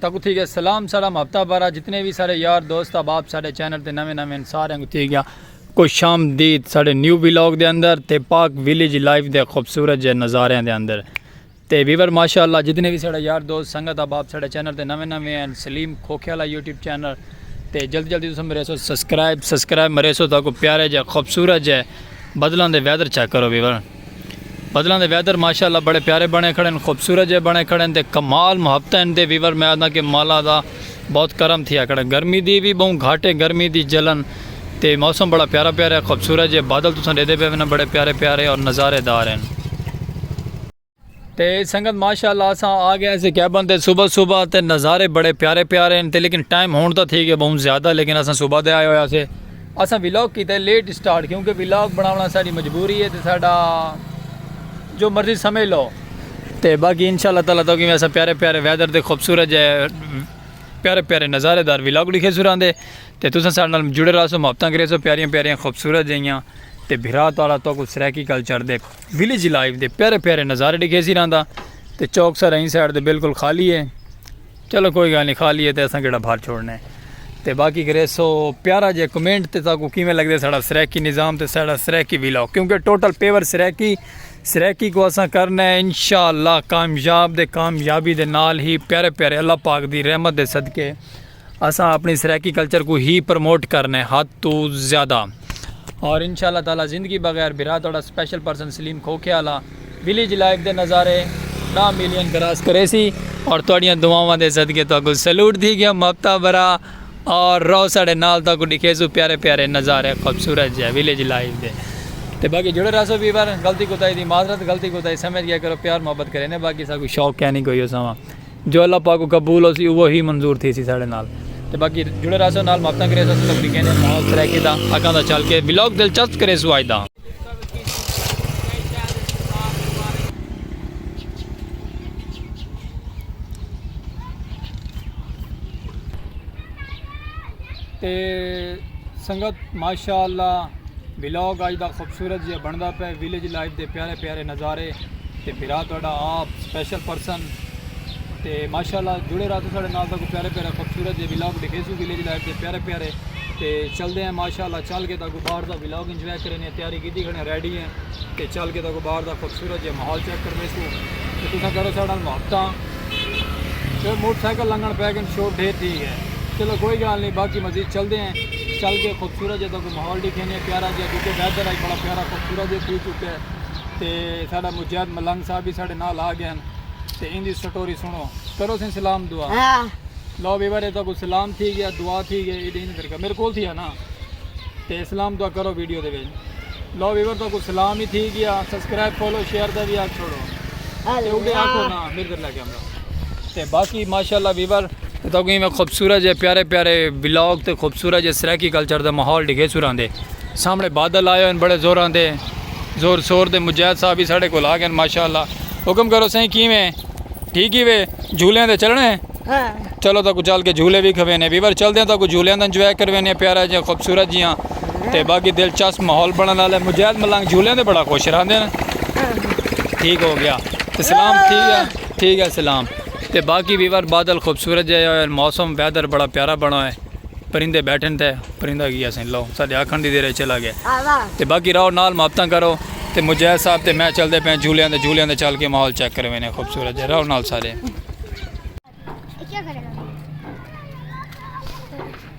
تہاکوں تھی گیا سلام ساڑا محبتہ بھرا جتنے وی ساڑے یار دوست احباب ساڑے چینل تے نویں نویں ہن ساریاں کوں تھی گیا خوش آمدید ساڑے نیو ولاگ دے اندر تے پاک ویلیج لائف دے خوبصورت جے نظاریاں دے اندر تے ویور ماشاءاللہ جتنے وی ساڑے یار دوست سنگت احباب ساڑے چینل تے نویں نویں ہن سلیم کھوکھے والا یوٹیوب چینل تے جلدی جلدی تساں میرے سو سبسکرائب سبسکرائب میرے سو تہاکوں پیارے جے خوبصورت جے بدلاں دے ویدر چیک کرو ویور بدلاں دے ویدر ماشاءاللہ بڑے پیارے بنے کھڑے ہن خوبصورت جئے بنے کھڑے ہن تے کمال محبتاں ہن تے ویور میں آہداں کہ مولا دا بہت کرم تھیا کھڑا گرمی دی وی بہوں گھٹ ہے گرمی دی جلن تے موسم بڑا پیارا پیارا ہے خوبصورت جئے بادل تساں ڈیدھے پئے ونن بڑے پیارے پیارے اور نظارے دار ہن۔ تے سنگت ماشاءاللہ اساں آ گئے سے کیبن تے صبح صبح تے نظارے بڑے پیارے پیارے ہیں تے لیکن ٹائم ہون تا تھی گئے بہت زیادہ لیکن اساں صبح دے آئے ہویا سے اساں ویلاگ کیتا ہے لیٹ سٹارٹ کیونکہ ویلاگ بناونا ساڑی مجبوری ہے تے ساڑا جو مرضی سمجھ لو تے باقی انشاءاللہ تعالی تو کہ میں اساں پیارے پیارے ویدر تے خوبصورت جے پیارے پیارے نظارے دار ویلاگ لکھے سران دے تے تساں ساڑے نال جڑے رہا سو محبتاں کرے سو پیاریاں پیاریاں خوبصورت جیاں تے بھرا تعالی تو کو سرائیکی کلچر دے ویلیج لائف دے پیارے پیارے نظارے ڈکھے سی رہندا تے چوک سر این سائیڈ دے بالکل خالی ہے چلو کوئی گل نہیں خالی ہے تے اساں کیڑا بھر چھوڑنا ہے تے باقی کرے سو پیارا جے کمنٹ تے تاکو کیویں لگدے ساڑا سریکی نظام تے ساڑا سریکی ویلو کیونکہ ٹوٹل پیور سریکی سریکی کو اساں کرنا ہے انشاءاللہ کامیاب دے کامیابی دے نال ہی پیارے پیارے اللہ پاک دی رحمت دے صدقے اساں اپنی سرائیکی کلچر کوں ہی پروموٹ کرنے حد توں زیادہ۔ اور انشاءاللہ تعالی زندگی بغیر بھرا تہاڈا سپیشل پرسن سلیم کھوکھے آلا ویلیج لائف دے نظارے ݙاہ ملین کراس کریسی اور تہاڈیاں دعاواں دے صدقے تہاکوں سیلوٹ تھی گیاں مابتا برا اور رہو ساڈے نال تہاکوں ݙکھیسوں پیارے پیارے نظارے خوبصورت جے ویلیج لائف دے تے باقی جڑے رہسو ویور غلطی کوتاہی دی معذرت غلطی کوتاہی سمجھ گیا کرو پیار محبت کرینے باقی ساکوں شوق کینی کوئی اساواں جو اللہ پاک کوں قبول ہوسی اوہ ہی منظور تھیسی ساڑے نال تے باقی جڑے رہسو نال محبتاں کریسو اساں تک ڈیکھے نے ماحول سرائیکی دا اگاں دا چل کے ولاگ دلچسپ کریسو اج دا۔ تے سنگت ماشاءاللہ ولاگ اج دا خوبصورت جیا بندا پے ویلیج لائف دے پیارے پیارے نظارے تے بھرا تہاڈا آپ سپیشل پرسن تے ماشاءاللہ جڑے رہا تو ساڈے نال تاکو پیارے پیارے خوبصورت جے ولاگ دکھے سو ویلیج لائف دے پیارے پیارے تے چل دے ہیں ماشاءاللہ چل کے تاکو باہر دا ولاگ انجوائے کرے نے تیاری کیتی کھڑے ریڈی ہیں تے چل کے تاکو باہر دا خوبصورت جے ماحول چیک کرنے سو تے تسا کرو ساڈا محبتاں تے موٹر سائیکل لنگن پے گن شور ڈھیر تھی گئے چلو کوئی گال نہیں باقی مزید چل دے ہیں چل کے خوبصورت جے تاکو ماحول ڈیکھیں نے پیارا جیہا کیونکہ ویدر اج بڑا پیارا خوبصورت جیہا تھی چکا ہے تے ساڈا مجید ملنگ صاحب وی ساڈے نال آ گئے نے تے ایندی سٹوری سنڑو کرو سیں سلام دعا لو ویور اتھاں کو سلام تھی گیا دعا تھی گئی ایڈی ایندی درگاہ میرے کول تھی ہے نا تے سلام دعا کرو ویڈیو دے وچ لو ویور تو کو سلام ہی تھی گیا سبسکرائب فالو شیئر دا بھی آکھ چھوڑو تے اوڈے آکھو نا میرے در لے کیمرہ تے باقی ماشاءاللہ ویور تساکوں ایویں خوبصورت جے پیارے پیارے ولاگ تے خوبصورت جے سرائیکی کلچر دا ماحول ڈگھے سران دے سامنے بادل آئے ہن بڑے زوراں دے زور شور دے مجاہد صاحب بھی ساڈے کول آ گئے ماشاءاللہ حکم کرو سائیں کیویں ٹھیک ہی وے جھولیاں دے چلنا ہے ہاں۔ چلو تاکو چل کے جھولے بھی کھوینے ویور چلدے ہیں تاکو جھولیاں دا انجوائے کروینے پیارا جے خوبصورت جیاں تے باقی دلچسپ ماحول بنن والے مجاہد ملنگ جھولیاں دے بڑا خوش رہندے ہیں ٹھیک ہو گیا تے سلام ٹھیک ہے ٹھیک ہے سلام تے باقی ویور بادل خوبصورت جائے ہوئے موسم ویدر بڑا پیارا بنا ہوئے پرندے بیٹھن تے پرندہ گیا سن لو ساڑھے آکھن دی دیرے چلا گئے تے باقی راؤ نال محبتاں کرو تے مجاہد صاحب تے میں چل دے پہ جھولیاں دے جھولیاں دے چل کے ماحول چیک کروے نے خوبصورت جائے راؤ نال سارے